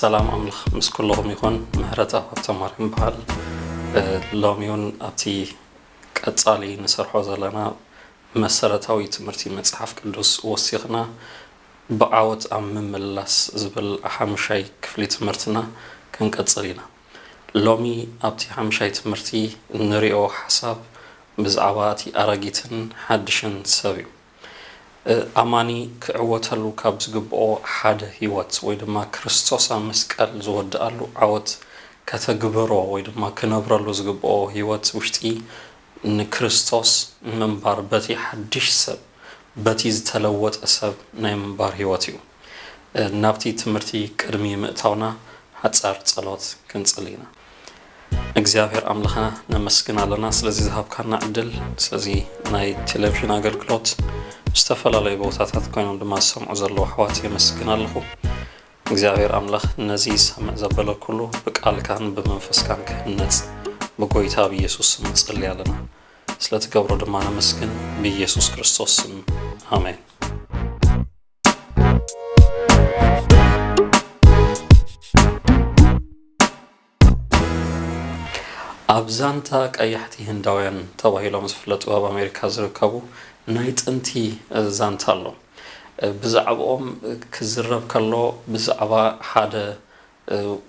ሰላም ኣምላኽ ምስ ኩልኹም ይኹን ምሕረት ኣብ ሃብተማርያም በዓል ሎሚ እውን ኣብቲ ቀጻሊ ንሰርሖ ዘለና መሰረታዊ ትምህርቲ መጽሓፍ ቅዱስ ወሲኽና ብዓወት ኣብ ምምልላስ ዝብል ሓሙሻይ ክፍሊ ትምህርትና ክንቅጽል ኢና። ሎሚ ኣብቲ ሓሙሻይ ትምህርቲ እንሪኦ ሓሳብ ብዛዕባ እቲ ኣረጊትን ሓድሽን ሰብ እዩ። ኣማኒ ክዕወተሉ ካብ ዝግብኦ ሓደ ህይወት ወይ ድማ ክርስቶስ ኣብ መስቀል ዝወድኣሉ ዓወት ከተግብሮ ወይ ድማ ክነብረሉ ዝግብኦ ህይወት ውሽጢ ንክርስቶስ ምንባር በቲ ሓድሽ ሰብ፣ በቲ ዝተለወጠ ሰብ ናይ ምንባር ሕይወት እዩ። ናብቲ ትምህርቲ ቅድሚ ምእታውና ሓጻር ጸሎት ክንጽሊ ኢና። እግዚኣብሔር ኣምላኽና ነመስግን ኣለና ስለዚ ዝሃብካና ዕድል ስለዚ ናይ ቴሌቪዥን ኣገልግሎት ዝተፈላለዩ ቦታታት ኮይኖም ድማ ዝሰምዑ ዘለዉ ኣሕዋት የመስግን ኣለኹ። እግዚኣብሔር ኣምላኽ ነዚ ይሰምዕ ዘበለ ኩሉ ብቃልካን ብመንፈስካን ክህነጽ ብጎይታ ብኢየሱስ ስም ንጸሊ ኣለና ስለ ትገብሮ ድማ ነመስግን ብኢየሱስ ክርስቶስ ስም ኣሜን። ኣብ ዛንታ ቀያሕቲ ህንዳውያን ተባሂሎም ዝፍለጡ ኣብ ኣሜሪካ ዝርከቡ ናይ ጥንቲ ዛንታ ኣሎ። ብዛዕብኦም ክዝረብ ከሎ ብዛዕባ ሓደ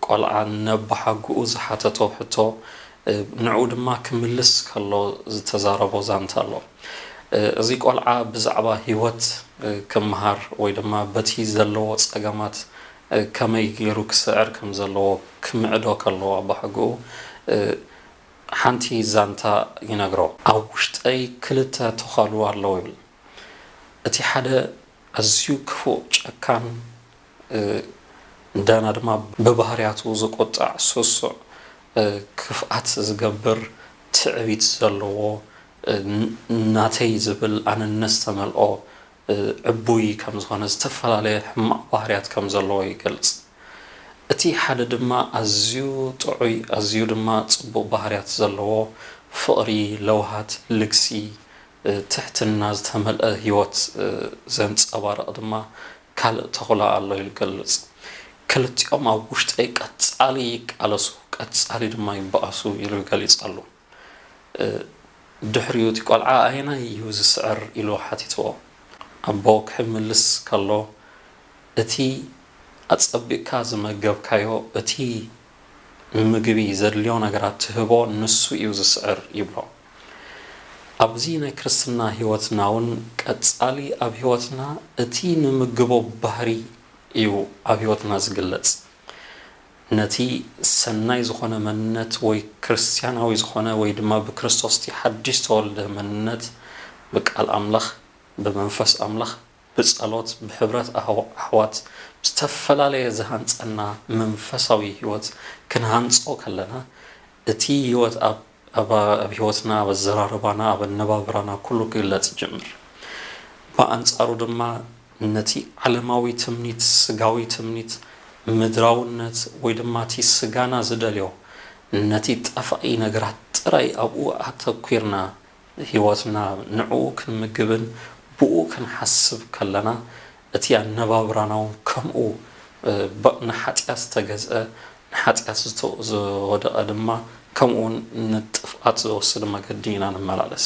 ቆልዓ ነባሓጉኡ ዝሓተቶ ሕቶ ንዕኡ ድማ ክምልስ ከሎ ዝተዛረቦ ዛንታ ኣሎ። እዚ ቆልዓ ብዛዕባ ህይወት ክመሃር ወይ ድማ በቲ ዘለዎ ጸገማት ከመይ ገይሩ ክስዕር ከም ዘለዎ ክምዕዶ ከሎ ኣቦሓጎኡ ሓንቲ ዛንታ ይነግሮ። ኣብ ውሽጠይ ክልተ ቶኻሉ ኣለዉ ይብል። እቲ ሓደ ኣዝዩ ክፉእ ጨካን እንደገና ድማ ብባህርያቱ ዝቁጣዕ ስሱዕ ክፍኣት ዝገብር ትዕቢት ዘለዎ ናተይ ዝብል ኣነነት ዝተመልኦ ዕቡይ ከም ዝኾነ ዝተፈላለየ ሕማቕ ባህርያት ከም ዘለዎ ይገልጽ። እቲ ሓደ ድማ ኣዝዩ ጥዑይ ኣዝዩ ድማ ጽቡቕ ባህርያት ዘለዎ ፍቕሪ፣ ለውሃት፣ ልግሲ፣ ትሕትና ዝተመልኣ ህይወት ዘንጸባርቕ ድማ ካልእ ተኹላ ኣሎ ኢሉ ይገልጽ። ክልቲኦም ኣብ ውሽጠይ ቀጻሊ ይቃለሱ ቀጻሊ ድማ ይበኣሱ ኢሉ ገሊጻሉ። ድሕሪኡ እቲ ቆልዓ ኣየናይ እዩ ዝስዕር ኢሉ ሓቲትዎ። ኣቦ ክሕምልስ ከሎ እቲ ኣጸቢቕካ ዝመገብካዮ እቲ ንምግቢ ዘድልዮ ነገራት ትህቦ ንሱ እዩ ዝስዕር ይብሎ። ኣብዚ ናይ ክርስትና ሕይወትናውን ቀጻሊ ኣብ ሕይወትና እቲ ንምግቦ ባህሪ እዩ ኣብ ሕይወትና ዝግለጽ። ነቲ ሰናይ ዝኾነ መንነት ወይ ክርስትያናዊ ዝኾነ ወይ ድማ ብክርስቶስ እቲ ሓድሽ ዝተወልደ መንነት ብቃል ኣምላኽ፣ ብመንፈስ ኣምላኽ፣ ብጸሎት፣ ብሕብረት ኣሕዋት፣ ብዝተፈላለየ ዝሃንጸና መንፈሳዊ ሕይወት ክንሃንጾ ከለና እቲ ሕይወት ኣብ። እባ ኣብ ህይወትና፣ ኣብ ኣዘራርባና፣ ኣብ ኣነባብራና ኩሉ ክግለጽ ይጅምር። ብኣንጻሩ ድማ ነቲ ዓለማዊ ትምኒት፣ ስጋዊ ትምኒት፣ ምድራውነት ወይ ድማ እቲ ስጋና ዝደልዮ ነቲ ጠፋኢ ነገራት ጥራይ ኣብኡ ኣተኲርና ህይወትና ንዕኡ ክንምግብን ብኡ ክንሓስብ ከለና እቲ ኣነባብራናውን ከምኡ በቕ ንሓጢኣት ዝተገዝኣ ንሓጢኣት ዝተወደቐ ድማ ከምኡውን ንጥፍኣት ዘወስድ መገዲ ኢና ንመላለስ።